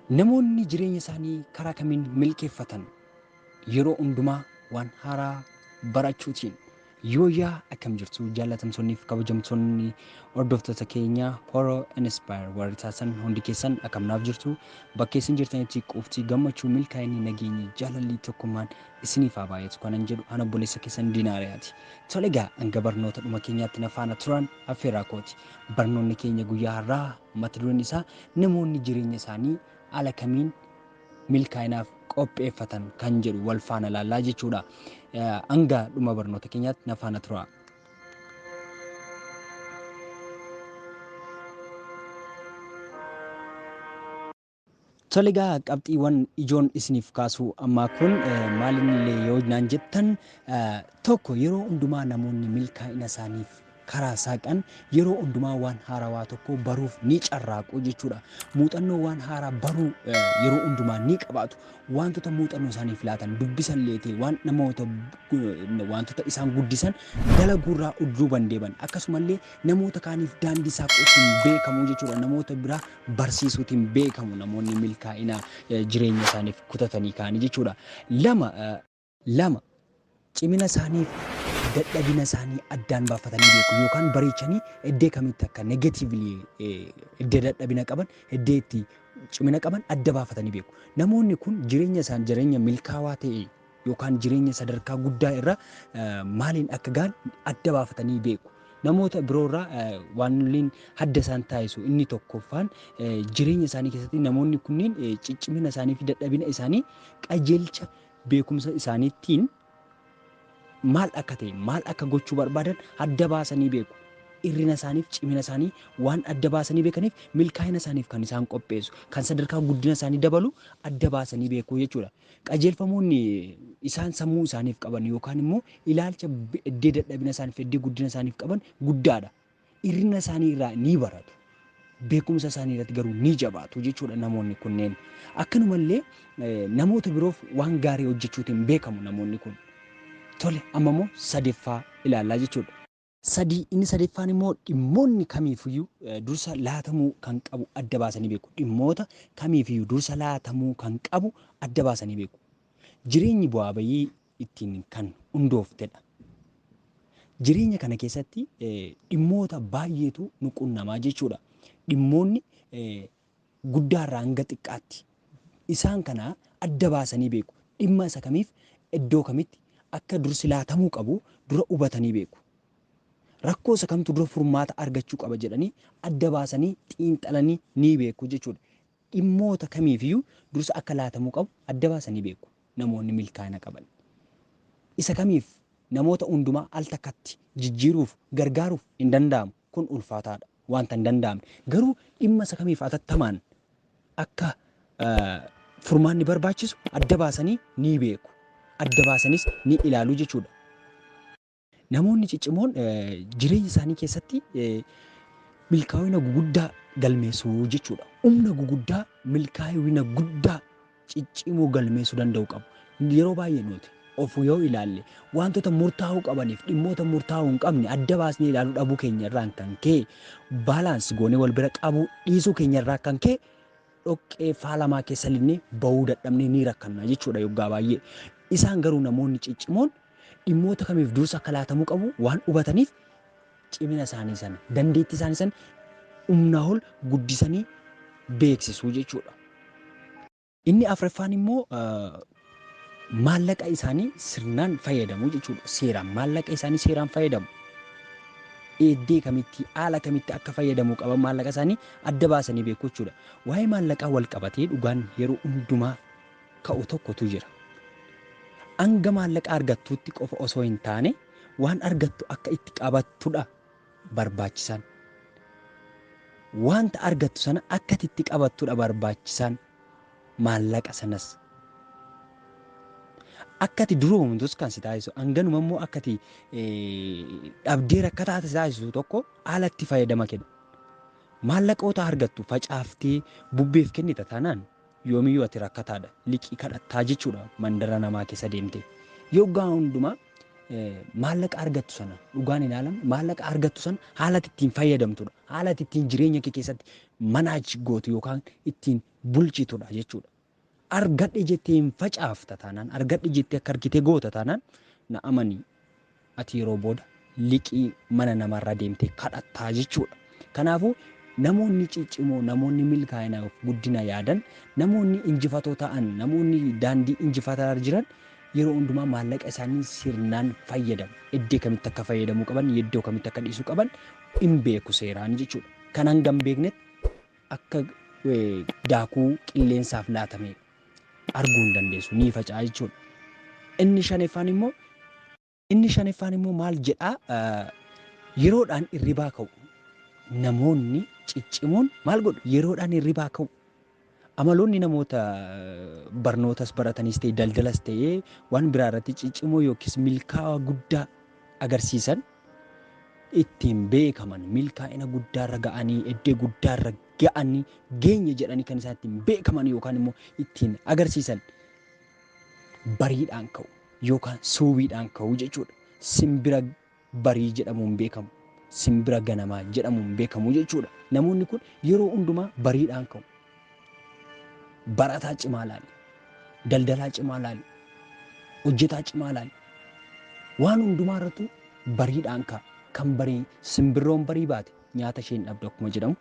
Namoonni jireenya isaanii karaa kamiin milkeeffatan? Yeroo hundumaa waan haaraa barachuutiin Yooyyaa akkam jirtu jaallatamtoonni fi kabajamtoonni hordoftoota keenya Horo Inspire warri taatan hundi keessan akkam naaf jirtu bakka isin jirtanitti qufti gammachuu milkaa'inni nageenyi jaalalli tokkummaan isiniif haa baay'atu kanan jedhu ana obboleessa keessan diinaariyaati. Tole egaa hanga barnoota dhuma keenyaatti na faana turaan affeeraa kooti. Barnoonni keenya guyyaa har'aa mata dureen isaa namoonni jireenya isaanii haala kamiin milkaa'inaaf qopheeffatan kan jedhu wal faana laallaa jechuudha. Hanga dhuma barnoota keenyaatti na faana turaa. Toligaa qabxiiwwan ijoon isiniif kaasuu ammaa kun maalinillee yoo naan jettan tokko yeroo hundumaa namoonni milkaa'ina isaaniif karaa saaqan yeroo hundumaa waan haarawaa tokko baruuf ni carraaqu jechuudha. Muuxannoo waan haaraa baruu yeroo hundumaa ni qabaatu. Waantota muuxannoo isaaniif laatan dubbisan leetee waan namoota waantota isaan guddisan dalaguurraa udduu bandeeban akkasumallee namoota kaaniif daandii saaquutiin beekamu jechuudha. Namoota biraa barsiisuutiin beekamu namoonni milkaa'ina jireenya isaaniif kutatanii kaanii jechuudha. Lama 2, Cimina isaanii fi dadhabina isaanii addaan baafatanii beeku yookaan bareechanii eddee kamitti akka negatively eddee dadhabina qaban eddee itti cimina qaban adda baafatanii beeku. Namoonni kun jireenya isaan jireenya milkaawaa ta'e yookaan jireenya sadarkaa guddaa irra maaliin akka ga'an adda baafatanii beeku. Namoota biroo irraa waanilleen adda isaan taasisu inni tokkoffaan jireenya isaanii keessatti namoonni kunniin ciccimina isaanii fi dadhabina isaanii qajeelcha beekumsa isaaniittiin maal akka ta'e, maal akka gochuu barbaadan adda baasanii beeku. Irrina isaaniif cimina isaanii waan adda baasanii beekaniif milkaa'ina isaaniif kan isaan qopheessu, kan sadarkaa guddina isaanii dabalu adda baasanii beeku jechuudha. Qajeelfamoonni isaan sammuu isaaniif qaban yookaan immoo ilaalcha eddee dadhabina isaaniif, eddee guddina isaaniif qaban guddaadha. Hir'ina isaanii irraa ni baratu, beekumsa isaanii irratti garuu ni jabaatu jechuudha namoonni kunneen. Akkanuma illee namoota biroof waan gaarii hojjechuutiin beekamu namoonni kun. Tole amma immoo sadeffaa ilaallaa jechuudha. Sadii inni sadeeffaan immoo dhimmoonni kamiifiyyuu dursa laatamuu kan qabu adda baasanii beeku. Dhimmoota kamiifiyyuu dursa laatamuu kan qabu adda baasanii beeku. Jireenyi bu'aa bayii ittiin kan hundooftedha. Jireenya kana keessatti dhimmoota baay'eetu nu qunnamaa jechuudha. Dhimmoonni guddaarraa hanga xiqqaatti isaan kana adda baasanii beeku. Dhimma isa kamiif iddoo kamitti akka dursi laatamuu qabu dura hubatanii beeku. Rakkoo isa kamtu dura furmaata argachuu qaba jedhanii adda baasanii xiinxalanii ni beeku jechuudha. dhimmoota kamiifiyyuu dursa akka laatamuu qabu adda baasanii beeku. Namoonni milkaa'ina qaban isa kamiif namoota hundumaa al takkatti jijjiiruuf, gargaaruuf hin danda'amu. Kun ulfaataa dha, wanta hin danda'amne. Garuu dhimma isa kamiif atattamaan akka furmaanni barbaachisu adda baasanii ni beeku, adda baasanis ni ilaalu jechuu dha. Namoonni ciccimoon jireenya isaanii keessatti milkaa'ina guguddaa galmeessu jechuudha. Humna guguddaa milkaa'ina guddaa ciccimoo galmeessuu danda'u qabu. Yeroo baay'ee nuti of yoo ilaalle wantoota murtaa'uu qabaniif dhimmoota murtaa'uu hin qabne adda baasnee ilaaluu dhabuu keenya irraan kan ka'e baalaans goonee wal bira qabuu dhiisuu keenya irraa kan ka'e dhoqqee faalamaa keessa linnee ba'uu dadhabnee ni rakkanna jechuudha yoggaa baay'ee. Isaan garuu namoonni ciccimoon dhimmoota kamiif dursa akka laatamuu qabu waan hubataniif cimina isaanii sana, dandeettii isaanii sana humnaa ol guddisanii beeksisu jechuudha. Inni afraffaan immoo Maallaqa isaanii sirnaan fayyadamu jechuudha. Seeraan maallaqa isaanii seeraan fayyadamu. Eeddee kamitti haala kamitti akka fayyadamuu qaban maallaqa isaanii adda baasanii beeku jechuudha. Waa'ee maallaqaa wal qabatee dhugaan yeroo hundumaa ka'u tokkotu jira. Hanga maallaqa argattuutti qofa osoo hin taane waan argattu akka itti qabattudha barbaachisaan. Wanta argattu sana akka itti qabattudha barbaachisaan. Maallaqa sanas akka ati duroomtus kan si taasisu, hanganuma immoo akka ati dhabdee rakkataa si taasisu tokko alatti fayyadama kenna. Maallaqoota argattu facaaftee bubbeef kennita taanaan yoomiyyuu ati rakkataadha, liqii kadhattaa jechuudha mandara namaa keessa deemtee. Yoggaa hundumaa maallaqa argattu sana dhugaan ilaalamu maallaqa argattu sana haala ati ittiin fayyadamtudha. Haala ati ittiin jireenya kee keessatti manage gootu yookaan ittiin bulchitudha jechuudha. Argadhe jettee hin facaafta taanaan, argadhe jettee akka argite goota taanaan na amani ati yeroo booda liqii mana namaarraa deemtee kadhattaa jechuudha. Kanaafuu namoonni ciccimoo, namoonni milkaa'inaaf guddina yaadan, namoonni injifatoo ta'an, namoonni daandii injifataarra jiran yeroo hundumaa maallaqa isaanii sirnaan fayyadamu. Eddee kamitti akka fayyadamuu qaban, yeddoo kamitti akka dhiisuu qaban hin beeku seeraan jechuudha. Kan hanga hin beeknetti akka daakuu qilleensaaf laatamee arguu hin dandeessu. Ni faca'a jechuudha. Inni shaneffaan immoo inni shaneffaan immoo maal jedhaa yeroodhaan irribaa ka'u. Namoonni ciccimoon maal godhu yeroodhaan irribaa ka'u. Amaloonni namoota barnootas baratanis ta'e daldalas ta'e waan biraa irratti ciccimoo yookiis milkaa'aa guddaa agarsiisan ittiin beekaman milkaa'ina guddaarra ga'anii eddee guddaarra ga'anii geenye jedhanii kan isaan ittiin beekaman yookaan immoo ittiin agarsiisan bariidhaan ka'u yookaan suubiidhaan ka'u jechuudha. Simbira barii jedhamuun beekamu, simbira ganamaa jedhamuun beekamu jechuudha. Namoonni kun yeroo hundumaa bariidhaan ka'u. Barataa cimaa ilaali. Daldalaa cimaa ilaali. Hojjetaa cimaa ilaali. Waan hundumaa irrattuu bariidhaan ka'a. Kan barii simbirroon barii baate nyaata ishee hin dhabdu akkuma jedhamu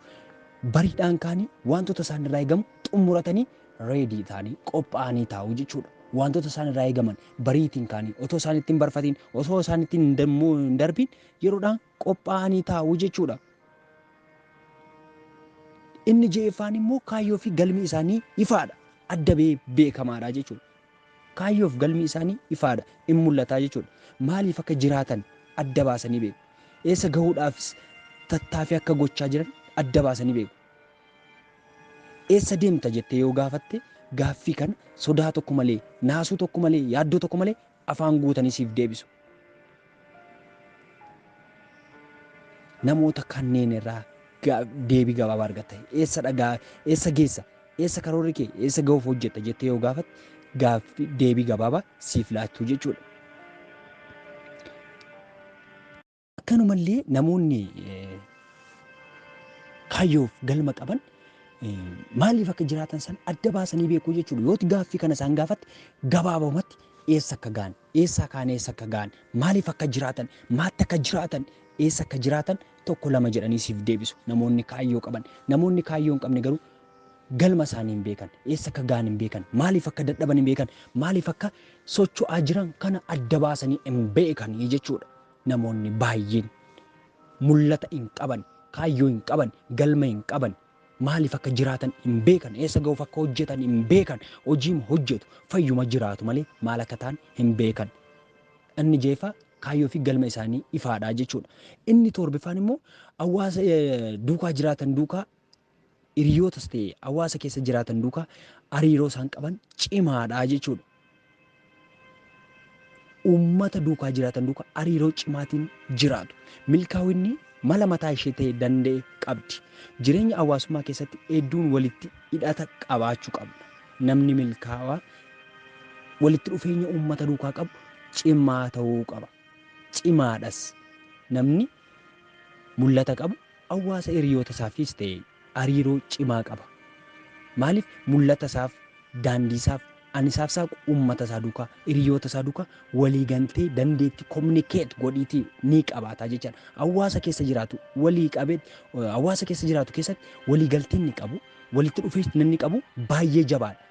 bariidhaan kaanii wantoota isaan irraa eegamu xumuratanii reedii ta'anii qophaa'anii taa'u jechuudha. Wantoota isaan irraa eegaman bariitiin kaanii otoo isaan ittiin barfatiin osoo isaan ittiin hin dammuu hin darbiin yeroodhaan qophaa'anii taa'u jechuudha. Inni je'effaan immoo kaayyoo fi galmi isaanii ifaadha. Adda bee beekamaadha jechuudha. Kaayyoof galmi isaanii ifaadha, in mul'ata jechuudha. Maaliif akka jiraatan adda baasanii beeku. Eessa gahuudhaafis tattaafii akka gochaa jiran adda baasanii beeku. Eessa deemta jettee yoo gaafatte gaaffii kana sodaa tokko malee, naasuu tokko malee, yaaddoo tokko malee afaan guutanii siif deebisu. Namoota kanneen irraa ga- deebii gabaabaa argatta. Eessa dhagaa, eessa geessa, eessa karoorri kee, eessa gahuuf hojjetta jettee yoo gaafatte gaaffii deebii gabaabaa siif laachuu jechuudha. Akkanumallee namoonni eh, kaayyoof galma qaban eh, maaliif akka jiraatan san adda baasanii beekuu jechuudha. Yooti gaaffii kana isaan gaafatte gabaabumatti eessa akka ga'an Eessaa ka'an eessa akka ga'an, maaliif akka jiraatan, maatti akka jiraatan, eessa akka jiraatan tokko lama jedhanii siif deebisu. Namoonni kaayyoo qaban. Namoonni kaayyoo hin qabne garuu galma isaanii hin beekan. Eessa akka ga'an hin beekan. Maaliif akka dadhaban hin beekan. Maaliif akka socho'aa jiran kana adda baasanii hin beekan jechuudha. Namoonni baay'een mul'ata hin qaban, kaayyoo hin qaban, galma hin qaban. Maaliif akka jiraatan hin beekan, eessa gahuuf akka hojjetan hin beekan, hojiima hojjetu, fayyuma jiraatu malee maal akka ta'an hin beekan. Inni ja'affaa kaayyoo fi galma isaanii ifaadha jechuudha. Inni toorbiffaan immoo hawaasa duukaa jiraatan duukaa hiriyootas ta'e hawaasa keessa jiraatan duukaa hariiroo isaan qaban cimaadha jechuudha. uummata duukaa jiraatan duuka hariiroo cimaatiin jiraatu. Milkaawinni mala mataa ishee ta'e danda'e qabdi. Jireenya hawaasummaa keessatti hedduun walitti hidhata qabaachuu qabna. Namni milkaawaa walitti dhufeenya uummata duukaa qabu cimaa ta'uu qaba. Cimaadhas. Namni mul'ata qabu hawaasa hiriyoota isaafis ta'e ariiroo cimaa qaba. Maaliif mul'ata isaaf, daandii isaaf, an isaaf saaqu uummata isaa duukaa, hiriyoota isaa duukaa walii galtee dandeetti communicate godhiitii ni qabaata jechaan. Hawaasa keessa jiraatu walii qabee hawaasa keessa jiraatu keessatti walii galtee inni qabu, walitti dhufeessi inni qabu baay'ee jabaadha.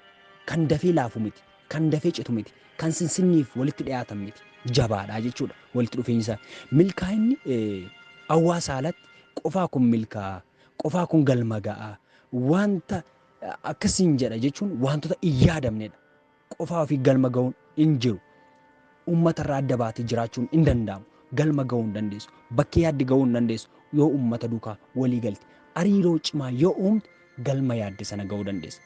Kan dafee laafu miti, kan dafee citu miti, kan sinsinniif walitti dhiyaatan miti. Jabaadha jechuudha walitti dhufeenyi isaa. Milkaa'inni hawaasa alatti qofaa kun milkaa'a. qofaa kun galma ga'a. Wanta akkas siin jedha jechuun wantoota hin yaadamnedha. Qofaa ofii galma ga'uun hin jiru. Uummata irraa adda baatee jiraachuun hin danda'amu. Galma ga'uu hin dandeessu. Bakkee yaadde ga'uu hin dandeessu yoo uummata duukaa walii galte. Hariiroo cimaa yoo uumte galma yaadde sana ga'uu dandeessa.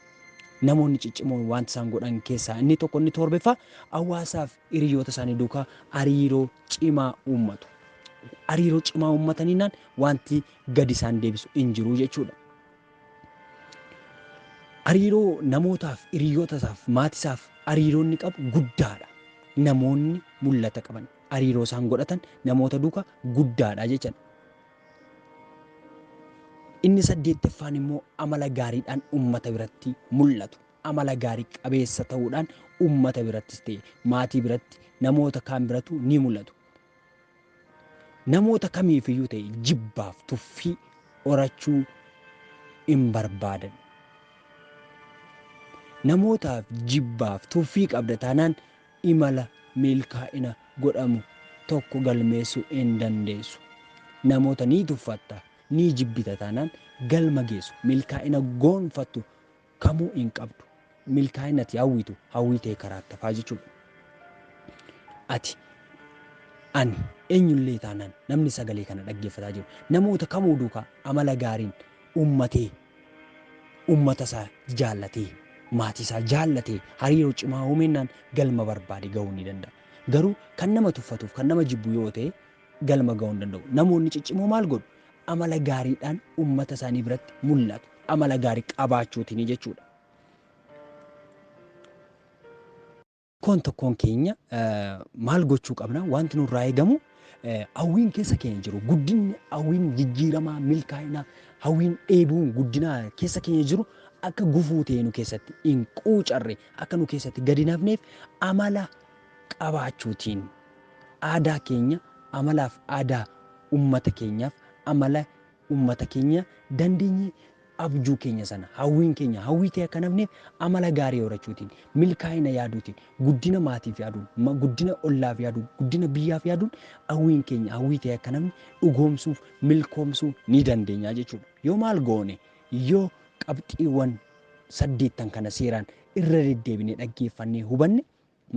Namoonni ciccimoon wanta isaan godhan keessaa inni tokko inni torbeffaa hawaasaaf hiriyoota isaanii duukaa hariiroo cimaa uummatu. Hariiroo cimaa uummataniinaan wanti gadi isaan deebisu hin jiru jechuudha. Hariiroo namootaaf, hiriyoota isaaf, maatii isaaf hariiroo inni qabu guddaadha. Namoonni mul'ata qaban hariiroo isaan godhatan namoota duuka guddaadha jechuudha. Inni saddeettaffaan immoo amala gaariidhaan uummata biratti mul'atu. Amala gaarii qabeessa ta'uudhaan uummata birattis ta'e maatii biratti namoota kaan biratu ni mul'atu. Namoota kamiifiyyuu ta'e jibbaaf tuffii horachuu hin barbaadan. Namootaaf jibbaaf tuffii qabda taanaan imala milkaa'ina godhamu tokko galmeessuu hin dandeessu. Namoota ni tuffatta, ni jibbita taanaan galma geessu, milkaa'ina goonfattu kamuu hin qabdu. Milkaa'inni ati hawwitu hawwii ta'ee karaatti hafaa jechuudha. Ati ani eenyullee taanaan namni sagalee kana dhaggeeffataa jiru namoota kamuu duukaa amala gaariin uummatee uummata isaa jaallatee maatii isaa jaallatee hariiroo cimaa uumeennaan galma barbaade gahuu ni danda'a. Garuu kan nama tuffatuuf kan nama jibbu yoo ta'e galma ga'uu hin danda'u. Namoonni ciccimoo maal godhu? Amala gaariidhaan uummata isaanii biratti mul'atu. Amala gaarii qabaachuutiin jechuudha. Tokkoon tokkoon keenya maal gochuu qabna? Wanti nurraa eegamu hawwiin keessa keenya jiru guddinni hawwiin jijjiiramaa milkaa'inaa hawwiin dheebuun guddinaa keessa keenya jiru akka gufuu ta'e nu keessatti hin quucarre akka nu keessatti gadi nafneef amala qabaachuutiin Aadaa keenya amalaaf aadaa ummata keenyaaf amala ummata keenya dandeenye abjuu keenya sana hawwiin keenya hawwii ta'e akka hin hafneef amala gaarii horachuutiin milkaa'ina yaaduutiin guddina maatiif yaaduun ma- guddina ollaaf yaaduun guddina biyyaaf yaaduun hawwiin keenya hawwii ta'e akka hin hafne dhugoomsuuf milkoomsuu ni dandeenya jechuudha. Yoo maal goone yoo qabxiiwwan saddeettan kana seeraan irra deddeebinee dhaggeeffannee hubanne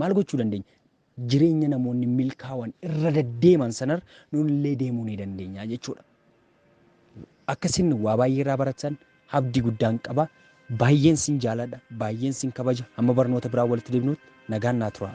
Maal gochuu dandeenya? Jireenya namoonni milkaawan irra deddeeman sanar nunillee deemuu ni dandeenya jechuudha. Akka isin waa baay'ee irraa barattan abdii guddaan qaba. Baay'een sin jaaladha, baay'een sin kabaja. Hamma barnoota biraa walitti deebinutti nagaan naa turaa.